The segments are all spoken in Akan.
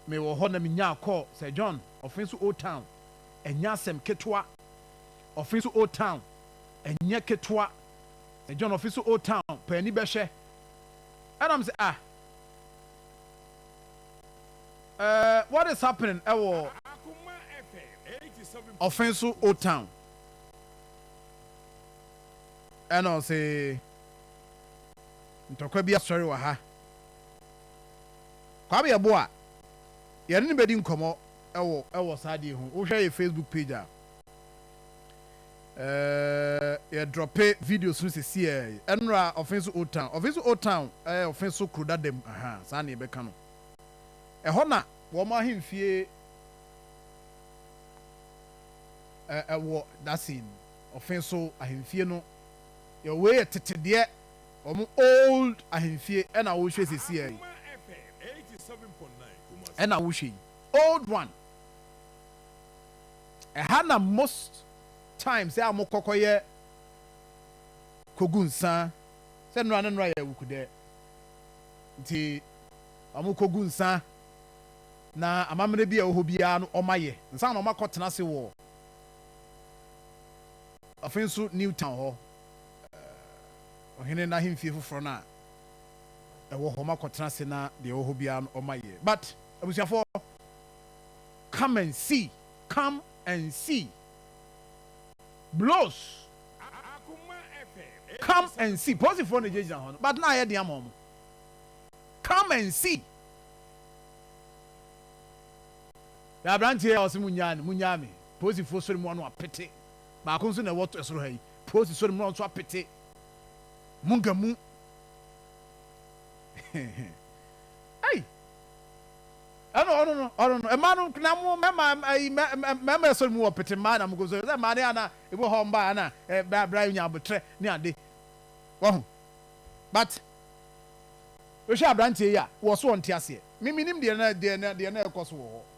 mewɔ hɔ na minyaa kɔɔ Sir John ɔfe so Old Town. Ɛnyɛ asɛm ketewa. Ɔfe so Old Town ɛnyɛ ketewa. Sir John ɔfe so Old Town pɛ ani bɛhwɛ. Ɛna me sɛ ah eh what is happening ɛwɔ ɔfe so Old Town. Ɛna ɔse ntɔkwa bi asɔre wɔ ha. Kwame yɛ bo a yɛne no bɛdi nkɔmmɔ wɔ wɔ saa adeɛ yi ho. Wo hwɛ yɛ Facebook page a eh, yɛ drɔpe videos no sesiɛɛ yi. Ɛnora Ɔfenso Old Town, Ɔfenso Old Town ɛyɛ Ɔfenso kuro dada mu, aha, saa na yɛbɛka no. Ɛhɔ na wɔn ahemfie ɛ, ɛwɔ, dasin, Ɔfenso ahemfie no, yɛ wei yɛ tetedeɛ. Wɔn old ahemfie na wo hwɛ sesiɛ yi ɛna wo hwɛ yi old one ɛha na most times a mo kɔ kɔ yɛ kɔ gu nsa sɛ nora ne nora yɛ wuku dɛ nti wɔn kɔ gu nsa na amammerɛ bi a ɛwɔ hɔ biara no wɔn ayɛ nsa na wɔn akɔ tena ase wɔ afei nso Newtown hɔ. ɔhene n'ahemfie foforɔ no a ɛwɔ hɔ, makɔtena ase na deɛ ɛwɔ hɔ biara no ɔma yie. But abusuafoɔ, come and see, come and see, blows, come and see, posifoɔ na gyinagyina hɔ no, but na ayɛ den ama wɔn, come and see. Yɛ aberanteɛ a ɔse munyaa no, munyaa me, posifoɔ sori mu ano apete. Baako nso na ɛwɔ soro ha yi. Paul si so no, na ɔno nso apete Munga mu. Ei! Ɛna ɔno no, ɔno no, mmaa no na mo mmarima ayi mmarima ɛsoro mu wɔ pete mmaa na mo kɔ so sɛ mmaa ne ana ebi wɔ hɔ mmaa ana ɛbra bra nya abotrɛ ne ade wɔho but wohwɛ aberanteɛ yi a wɔ so ɔnte aseɛ me menim deɛ na deɛ na deɛ na ɛkɔ so wɔ hɔ.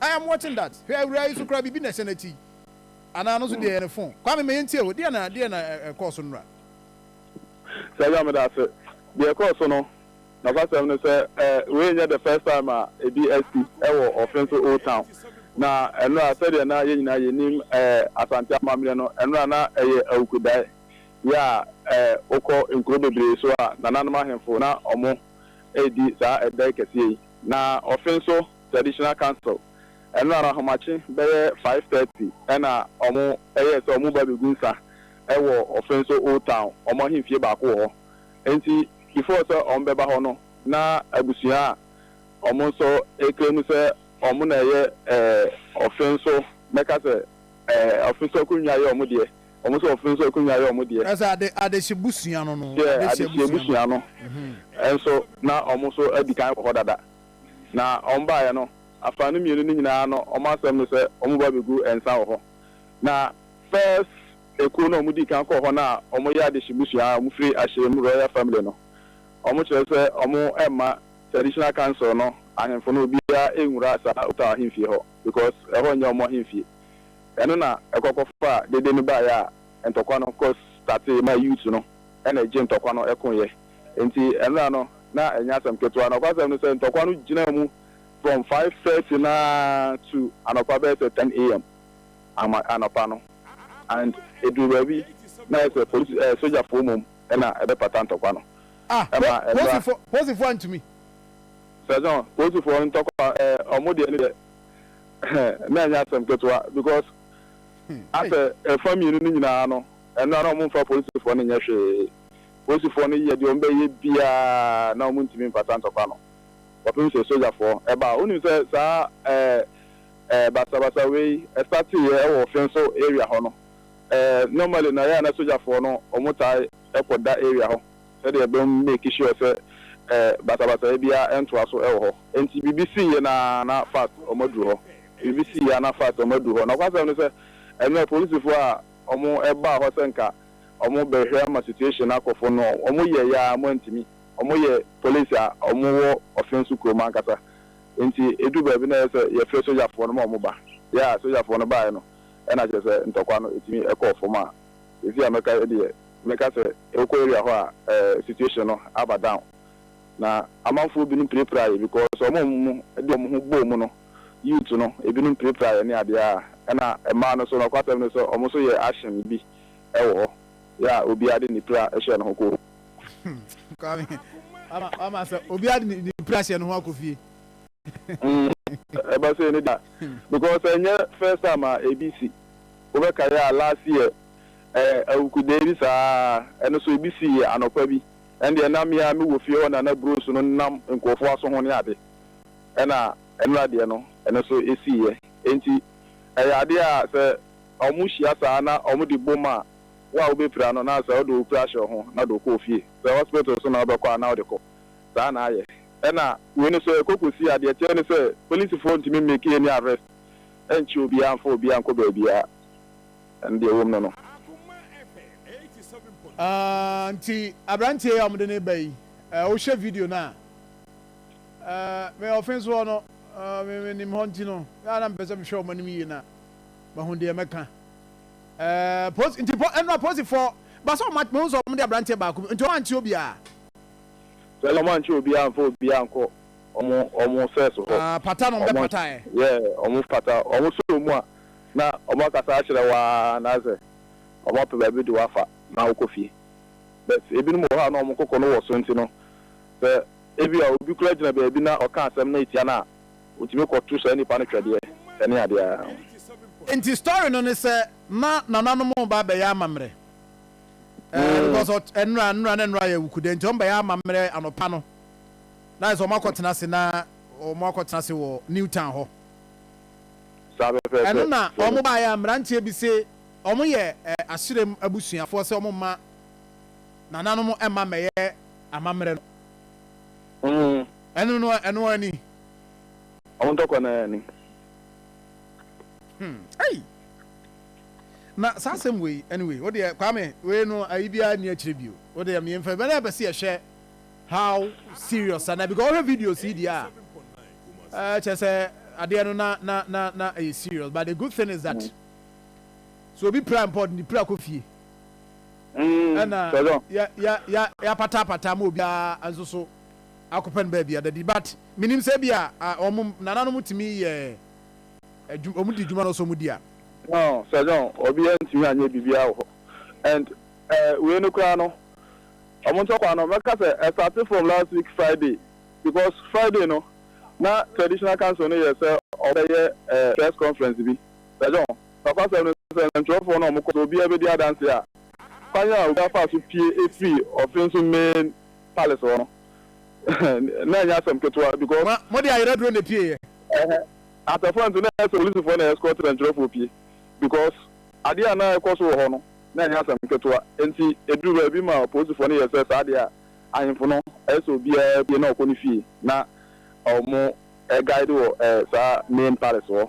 I am watching that Hwɛ awuraa yi so koraa biribi na ɛhyɛ n'akyi yi Anaa ɛno nso deɛ ɛyɛ ne phone Kwame ma yɛntie o deɛn na deɛn na ɛkɔɔ so nnora? Sergeant meda ase. Deɛ ɛkɔɔ so no, nokwasɛm ne sɛ eh, wei nyɛ the first time a ebi asi wɔ Offinso Old Town. Na nnora sɛdeɛ na yɛn nyinaa yɛnim eh, Asante amammerɛ no, nnora na ɛyɛ awukudaeɛ. Yɛ a eh, wokɔ nkuro bebree so a, nananom ahemfo na wɔredi saa ɛdae kɛseɛ yi. Na Offinso. Traditional Council. Ɛno ara ahomakye bɛyɛ five thirty na wɔyɛɛ sɛ wɔreba abegu nsa wɔ Offinso Old Town, wɔn ahemfie baako wɔ hɔ. Enti before sɛ wɔbɛba hɔ no, na abusua a wɔn nso claim sɛ wɔn na ɛyɛ Offinso, mɛka sɛ Offinso akonnwa yɛ wɔn deɛ, wɔn nso Offinso akonnwa yɛ wɔn deɛ. Ɛsɛ ade adehye busua no no. Adehye busua no nso, na wɔn nso adi kan wɔ hɔ dada. Na wɔn baeɛ no, afã no mmienu no nyinaa no, wɔn asɛm ne sɛ wɔbɛba abɛgu nsa wɔ hɔ. Na first ekuo no a wɔdii kan kɔɔ hɔ no a wɔyɛ adehye mmusua a wɔfiri Ahyɛm Royal Family no, wɔkyerɛ sɛ wɔmma Traditional Council no ahemfo no obiara nnwura saa Ottawa ahemfie hɔ because ɛhɔ nyɛ wɔn ahemfie. Ɛno na ɛkɔ kɔfaa dede no baeɛ a ntɔkwa no kɔ startee ma Ute no na ɛgye ntɔkwa no koeɛ. Enti ɛnna no, na ɛnyɛ asɛm ketewa. Nokwasɛm ne sɛ, ntɔkwa no gyinaa mu from five thirty no ara to anɔpa bɛyɛ sɛ ten AM ama anɔpa no. And eduu baabi na ayɛ sɛ polisi ɛɛ sogyafoɔ mmom na ɛbɛpata ntɔkwa no. Ah, po, Ɛmaa mmra. polisifoɔ, polisifoɔ antumi. Sergeant, polisifoɔ ntɔkwa ɛɛ wɔn deɛ ne deɛ, na ɛnyɛ asɛm ketewa because Hmm, ei. asɛ ɛfa mmienu no nyinaa no, mmra no wɔmfa polisifoɔ no nyɛ hwee. Polisifoɔ no yɛ deɛ wɔbɛyɛ biara na wɔntumi mfata ntɔkwa no kɔpem sɛ sogyafoɔ baa. Wonim sɛ saa ɛɛ basabasa wei starteeɛ wɔ Fenso area hɔ no. Ɛɛ normally no ɛyɛ a na sogyafoɔ no wɔtaa kɔ da area hɔ sɛdeɛ bɛ make sure sɛ ɛɛ basabasayɛ biara ntoa so wɔ hɔ. Nti biribi siiɛ no ara na fast wɔaduru hɔ. Biribi siiɛ ara na fast wɔaduru hɔ. Nɔkwasɛm ne sɛ ɛnɛ polisifoɔ a wɔbaa hɔ sɛ nka ɔmo bɛhwɛ ama situation no akɔ fɔno ɔmo yɛ yɛ aa ɔmo antumi ɔmo yɛ police a ɔmo wɔ ɔfenso kurom ankasa nti edu baabi na ɛyɛ sɛ yɛ frɛ sogyafoɔ no ma ɔmo ba yɛ aa sogyafoɔ no baeɛ no ɛna kyerɛ sɛ ntɔkwa no ɛtumi ɛkɔɔ fɔm a sɛsei a mɛka yɛ deɛ mɛka sɛ wokɔ area hɔ a ɛɛ situation no aba down na amanfoɔ binom pirapira yɛ because ɔmo ɔmo de ɔmo ho bɔɔ mu no youth no ebinom pirapira yɛ ne adeɛ aa ɛna mmaa no nso nɔkwasɛm ne sɛ ɔmo nso yɛ action bi. ɛwɔ hɔ yɛ a obiara de ne pira hyɛ ne ho kɔ fie. Kwame, wama sɛ obiara de ne pira hyɛ ne ho akɔ fie. Ɛba sei ne da because ɛnyɛ first time a ebi si. Wobɛkae a last year awukudee bi saa ɛno nso ebi sii anɔpa bi. Ɛno deɛ na me ara mewɔ fie hɔ na na burosu no nenam nkurɔfoɔ aso ho ne ade. Ɛna nnora deɛ no ɛno nso esiiɛ. Enti ɛyɛ adeɛ a sɛ Na ɔmo hyia saa na ɔmo de bom a wo a wobepira no na sɛ wode wo kura hyɛ wo ho na de wo kɔ ofie. Sɛ hospital so na wobɛkɔ a na wode kɔ. Saa na ayɛ. Ɛna wei no so ɛkɔ kɔsi a deɛ ɛteɛ ne sɛ polisifoɔ ntumi mmake any arrest nnkye obiara mmfa obiara nnkɔ baabiara. Ɛno deɛ ɛwom no no. Aah nti abranteɛ yi a wɔde no reba yi eh, wohwɛ video no a eh, me ɔfenso hɔ no eh, me menim hɔ nti no na na mepɛ sɛ mehwɛ wɔn anim yie na Mahu deɛ mɛka ɛɛ posi nti po ɛnu aposifoɔ basa wɔn ate mehu sɛ wɔn de aberanteɛ baako bi nti wɔn ante obiara. Sɛ wɔn ankyɛ obiara anfa obiara ankɔ wɔn wɔn sɛs hɔ. Ah pata na wɔn bɛ pata ɛ. Yeah wɔn pata wɔn sɔ wɔn mu a na wɔn akasa akyerɛ wo aa anaasɛ wɔn apɛ baabi de wo afa na wokɔ fie but ebinom wɔ hɔ a na wɔn koko no wɔ so nti no sɛ ebia obi koraa gyina baabi na ɔka asɛm na etia no a Wotumi kɔ to saa nipa no twɛdeɛ ɛne adeɛ aa. Nti story no ne sɛ na nananom reba abɛyɛ amammerɛ ɛɛ because nnora nnora na nnora yɛ awukude nti wɔn bɛyɛ amammerɛ anɔpa no na ayɛ sɛ wɔn akɔ tena ase na wɔn akɔ tena ase wɔ new town hɔ ɛno na wɔn baayɛ a mmeranteɛ bi se wɔn yɛ ɛɛ ahyerɛm abusuafoɔ sɛ wɔn mma nananom mma mmɛyɛ amammerɛ no. Mm. Ɛno no a, ɛno ara ni. Ɔmo ntɔkwa no ara ni. Hmm. Ei! Na saa asɛm wei, anyway, wo deɛ Kwame, wei no ayi biara nni akyire bio. Wo deɛ me mfa, bɛnɛ bɛsi ɛhwɛ how serious ana because ɔhwɛ videos yi deɛ a, ɛɛ kyɛ sɛ adeɛ no na na na na ɛyɛ serious but the good thing is that mm. so obi pira mpa ɔde ne pira kɔ fie. ɛna yɛapataapata ama obiara nso so akɔpɛ no baabi ada di but menim sɛ bi a wɔn nananom tumi yɛ adwuma wɔn di adwuma no sɛ wɔn di a. No Sir John obiara ntumi anyɛ biribiara wɔ hɔ and wei no koraa no wɔn ntɔkwa no mɛka sɛ ɛsate from last week Friday because Friday no na traditional council no yɛ sɛ wɔbɛyɛ press conference bi Sir John. Nokwasɛm ne sɛ, nsɛnkyerɛwfo no a wɔkɔ sɛ obiara bedi adanse a kwan a obiara faa so pue fii ɔfen so main palace hɔ no, na ɛnyɛ asɛm ketewa because. Ma wɔde ayɛraduro na epueeɛ. Ɛhɛ, atɛfoɔ nso, na ɛsɛ sɛ polisifoɔ na escort sɛnkyerɛwfoɔ pue because adeɛ a na ɛkɔ so wɔ hɔ no, na ɛnyɛ asɛm ketewa. Enti eduruu baabi ma polisifoɔ no yɛɛ sɛ saa deɛ a, ahemfo no, ɛsɛ sɛ obiara pue na ɔkɔ ne fie na wɔguide wɔ saa main palace hɔ.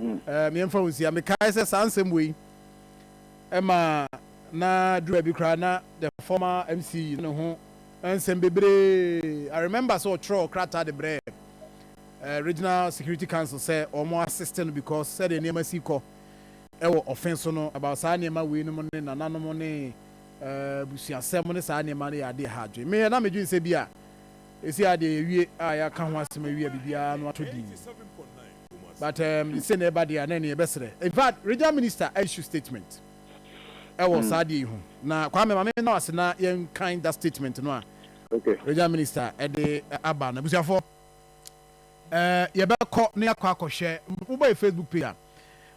Yɛmfa wo nsi a, mekae sɛ saa nsɛm wei ma na duru baabi koraa na the former MC na ne ho nsɛm bebree. I remember sɛ ɔtwerɛ ɔkrataa de brɛ eh, Regional Security Council sɛ wɔn assist no because sɛdeɛ nneɛma si kɔ ɛwɔ ɔfe so no about saa nneɛma wei nom ne nananom ne eh, busuasɛm ne saa nneɛma no yɛ adeɛ ha adwene. Meyɛ na medwene sɛ bi a ɛsi adeɛ yɛwie a yɛaka ho asɛm awie a biribiara no atɔ dii. but um, sɛ na ɛba deɛ a na ɛne ɛbɛsrɛ in fact regional minister issue statement ɛwɔ saa adeɛ yi ho na Kwame ma me na ase na yɛn kan that statement no a okay. regional minister ɛde aba na busuafoɔ ɛɛ yɛbɛkɔ ne akɔ akɔhwɛ wobɔ yɛ Facebook page a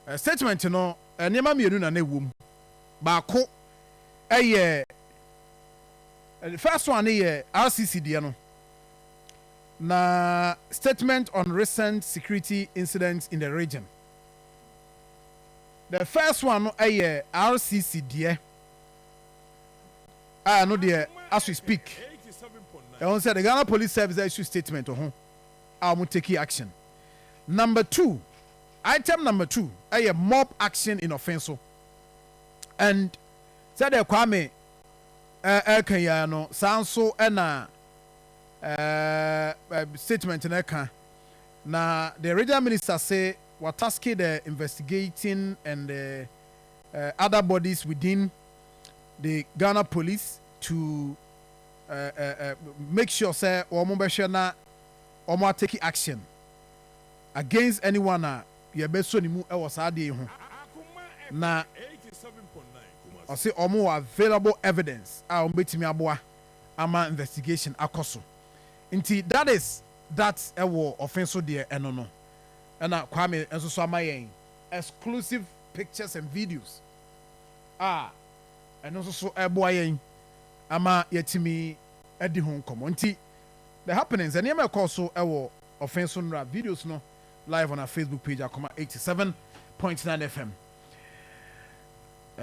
eh, statement no eh, nneɛma mmienu na na ɛwɔ mu baako ɛyɛ eh, first one ne yɛ RCC deɛ no Na Statement on Recent Security Incidents in the Region, the first one no yɛ RCC deɛ a ɛno deɛ as we speak ɛho sɛ the Ghana Police Service aissue statement wɔ ho a wɔn takii action. Number two, item number two yɛ mob action in Offinso and sɛdeɛ Kwame ɛreka yi ara no saa nso na statement no ka. Na the regional minister se wɔataske the investigating and other bodies within the Ghana police to make sure sɛ wɔbɛhwɛ na wɔatake action against anyone a yɛbɛsɔ ne mu wɔ saa adeɛ yi ho. Na ɔse wɔwɔ available evidence a wɔbɛtumi aboa ama investigation akɔ so nti that is that ɛwɔ ɔfe so deɛ ɛno no ɛna Kwame nso so ama yɛn exclusive pictures and videos a ɛno nso so ɛboa yɛn ama yɛatumi adi ho nkɔmɔ nti the happenings nneɛma ɛkɔɔ so ɛwɔ ɔfe so nnora videos no live on our Facebook page Akoma eighty seven point nine FM.